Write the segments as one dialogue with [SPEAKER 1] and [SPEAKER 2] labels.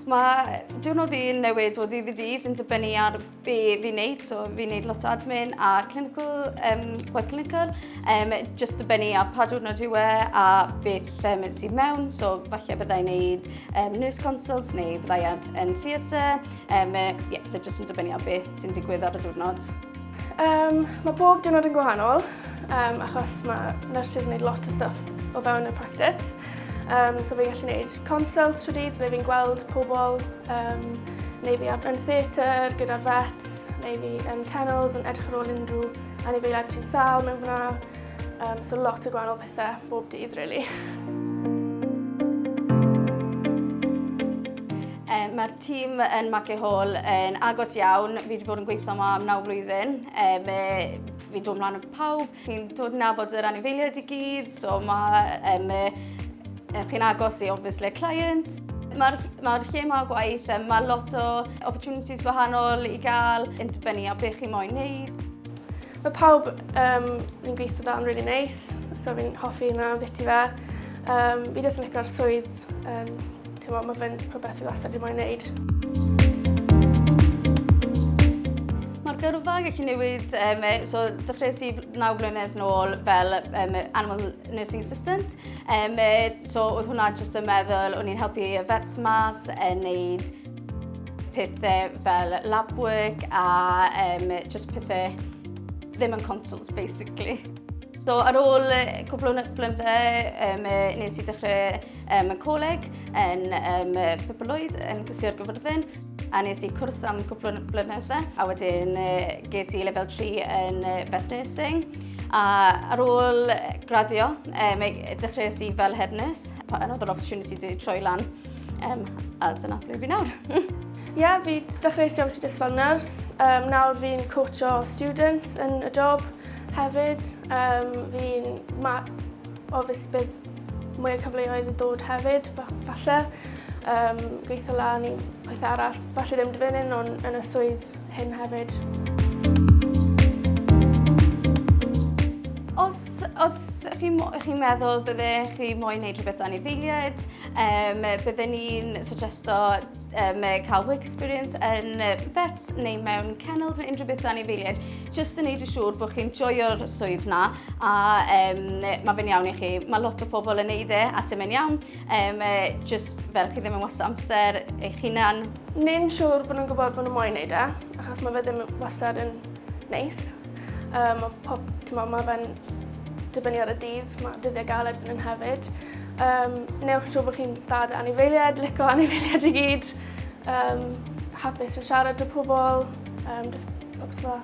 [SPEAKER 1] Mae diwrnod fi'n newid o ddydd i ddydd yn dibynnu ar be fi'n neud. So fi'n neud lot o admin a clinical, um, gwaith clinical. Um, just dibynnu ar pa diwrnod yw e a beth um, sydd mewn. So falle byddai'n neud um, nurse consults neu byddai'n yn theatre. Um, yeah, fe just yn dibynnu ar beth sy'n digwydd ar y diwrnod. Um,
[SPEAKER 2] mae bob diwrnod yn gwahanol, um, achos mae nurses yn gwneud lot o stuff o fewn y practice. Um, so fi'n gallu gwneud consult trwy dydd, ble fi'n gweld pobl, um, neu fi yn theatr gyda vets, neu fi yn kennels yn edrych ar ôl unrhyw anifeiliaid sy'n sal mewn fyna. Um, so lot o gwahanol pethau bob dydd, really.
[SPEAKER 1] Tîm yn Magley Hall yn agos iawn. Fi wedi bod yn gweithio yma am naw flwyddyn. E, fe, fi'n dod ymlaen yn pawb. Fi'n dod yn nabod yr anifeiliaid i gyd. So mae... Um, e, chi'n agos i, obviously, clients. Mae'r ma lle mae gwaith, mae lot o opportunities gwahanol i gael yn dibynnu a beth chi moyn wneud. Mae pawb
[SPEAKER 2] um, fi'n gweithio da'n really nice, so fi'n hoffi yna beth i fe. Um, fi jyst yn licio'r swydd um, Ti'n meddwl, mae fe'n rhywbeth fi wastad wedi moyn wneud.
[SPEAKER 1] Mae'r gyrfa yn gallu newid, um, so dechreuais i 9 blynedd nôl fel um, animal nursing assistant. Um, so oedd hwnna jyst yn meddwl, o'n i'n helpu y vets mas, yn neud pethau fel lab work a um, just pethau ddim yn consults basically. So ar ôl cwbl o blynydde, um, nes i dechrau um, y coleg, yn um, Pepolwyd, yn Cysio'r Gyfyrddin, a nes i cwrs am cwpl o blynydde, a wedyn ges i lefel 3 yn Beth Nursing. A ar ôl graddio, um, dechreuais i fel head nurse, pan oedd yr opportunity di troi lan, um, a dyna ble fi nawr. Ie, yeah, fi
[SPEAKER 2] dechreuais i obviously just fel nurse, um, nawr fi'n coach o students yn y job hefyd, um, fi'n obviously bydd mwy o cyfleoedd yn dod hefyd, falle. Um, gweithio lan i pethau arall, falle ddim dy fynnu nhw'n yn y swydd hyn hefyd.
[SPEAKER 1] Os, os chi, chi meddwl bydde chi moyn wneud rhywbeth dan i feiliad, um, bydde ni'n suggesto um, cael work experience yn vets neu mewn kennels neu unrhyw beth anifeiliaid, jyst yn neud yn siŵr bod chi'n joio'r swydd na a um, mae fe'n iawn i chi. Mae lot o pobl yn neud e a sy'n mynd iawn, um, jyst fel chi ddim yn wasto amser eich hunan. Neu'n siŵr bod
[SPEAKER 2] nhw'n gwybod bod nhw'n moyn neud e, achos mae fe ddim wastad yn neis. Um, pob, tymod, mae fe'n dibynnu ar y dydd, mae dyddiau galed fan hyn hefyd. Um, newch yn siŵr bod chi'n dda dy anifeiliaid, lico anifeiliaid i gyd, um, hapus yn siarad â pobl, um, just popeth dda.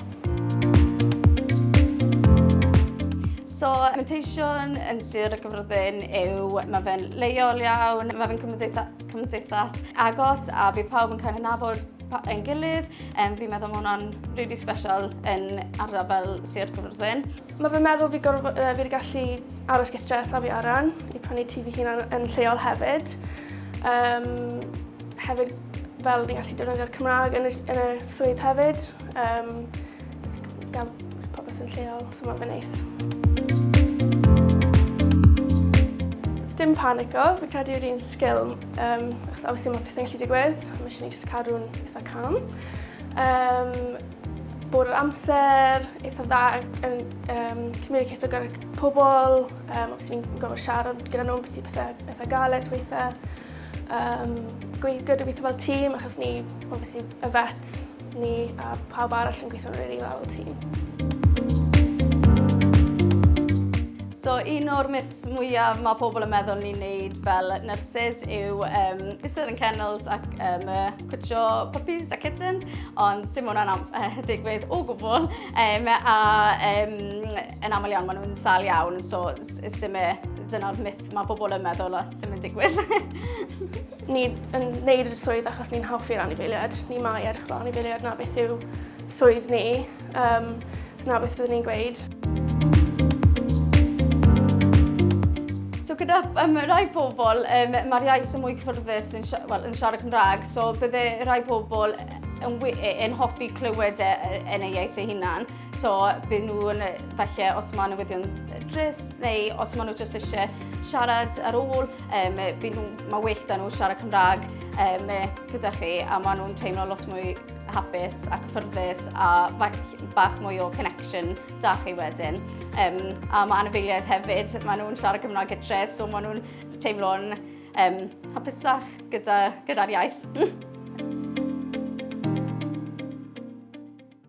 [SPEAKER 1] So, mentation yn Sir y Gyfrydyn yw, mae fe'n leol iawn, mae fe'n cymdeithas agos a bydd pawb yn cael ei nabod ein gilydd. Um, fi'n meddwl mae hwnna'n really special yn ardal fel Sir Gyfyrddin. Mae fy meddwl fi,
[SPEAKER 2] gorf, uh, fi wedi gallu aros gytre a safi aran i prynu tŷ fy hunan yn lleol hefyd. Um, hefyd fel ni'n gallu defnyddio'r Cymraeg yn y, yn y swydd hefyd. Um, gael popeth yn lleol, so mae'n fy neis. Dim panico, fi'n credu yw'r un sgil Um, achos obviously mae pethau'n gallu digwydd, mae eisiau ni jyst cadw'n eitha calm. Um, bod yr amser eitha dda yn um, communicato gyda pobl, um, os ni'n gofod siarad gyda nhw beth i pethau eitha galed weitha. Um, gyda gweithio fel tîm, achos ni, obviously, y vet, ni a pawb arall yn gweithio'n rili dda fel tîm.
[SPEAKER 1] So un o'r myths peth mwyaf mae pobl yn meddwl ni'n neud fel nurses yw um, eistedd yn kennels ac um, cwtio puppies a kittens, ond sy'n mwyn hwnna'n uh, digwydd o gwbl. Um, a um, yn aml iawn maen nhw'n sal iawn, so sy'n e, dyna'r myth mae pobl yn meddwl a sy'n mynd digwydd.
[SPEAKER 2] ni yn neud y swydd achos ni'n hoffi'r anifeiliad, ni mae edrych fel anifeiliad na beth yw swydd ni. Um, so na beth byddwn ni'n gweud.
[SPEAKER 1] So gyda um, rai pobl, um, mae'r iaith yn mwy cyffyrddus yn, well, yn siarad Cymraeg, so bydde rai pobl yn, e, yn hoffi clywed e, e, yn ei iaith ei hunan. So byd nhw'n falle os mae newyddion dris neu os mae nhw jyst eisiau siarad ar ôl, um, byd nhw, mae well da nhw siarad Cymraeg um, gyda chi a maen nhw'n teimlo lot mwy hapus ac ffyrddus a bach mwy o connection da chi wedyn. Um, a mae anifeiliaid hefyd, maen nhw'n siarad Cymraeg gytre, so maen nhw'n teimlo'n um, hapusach gyda'r gyda iaith.